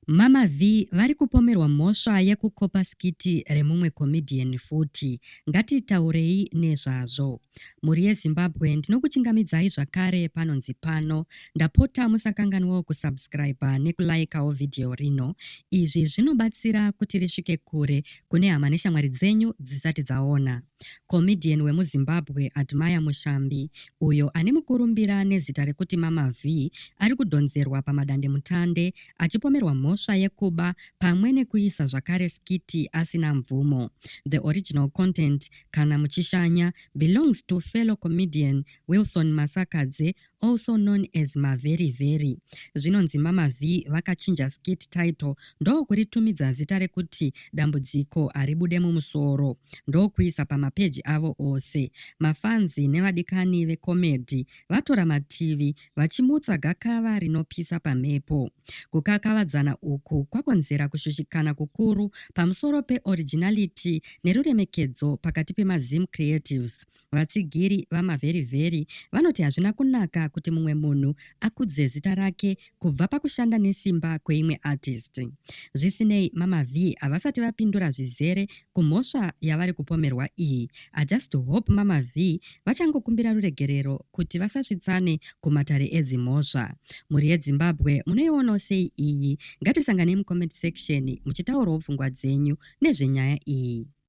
Mama Vee vari kupomerwa mhosva yekukopa skiti remumwe comedian futi. Ngatitaurei nezvazvo. Mhuri yeZimbabwe ndinokuchingamidzai zvakare panonzi pano. Ndapota musakanganwawo kusubscriber nekulikeawo video rino. Izvi zvinobatsira kuti risvike kure kune hama neshamwari dzenyu dzisati dzaona. Comedian wemuZimbabwe Admire Mushambi, uyo ane mukurumbira nezita rekuti Mama Vee, ari kudhonzerwa pamadandemutande achipomerwa mhosva yekuba pamwe nekuisa zvakare skiti asina mvumo. The original content, kana muchishanya, belongs to fellow comedian Wilson Masakadze also known as maveri veri zvinonzi mama v vakachinja skit title ndokuritumidza zita rekuti dambudziko haribude mumusoro ndokuisa pamapeji avo ose mafanzi nevadikani vecomedy vatora mativi vachimutsa gakava rinopisa pamhepo kukakavadzana uku kwakonzera kushushikana kukuru pamusoro peoriginality neruremekedzo pakati pemazim creatives Vatsigiri vaMaveriveri vanoti hazvina kunaka kuti mumwe munhu akudze zita rake kubva pakushanda nesimba kweimwe artist. Zvisinei, Mama Vee havasati vapindura zvizere kumhosva yavari kupomerwa iyi. I just hope Mama Vee vachangokumbira ruregerero kuti vasasvitsane kumatare edzimhosva. Mhuri yeDzimbabwe munoionawo sei iyi? Ngatisanganei mucomment section muchitaurawo pfungwa dzenyu nezvenyaya iyi.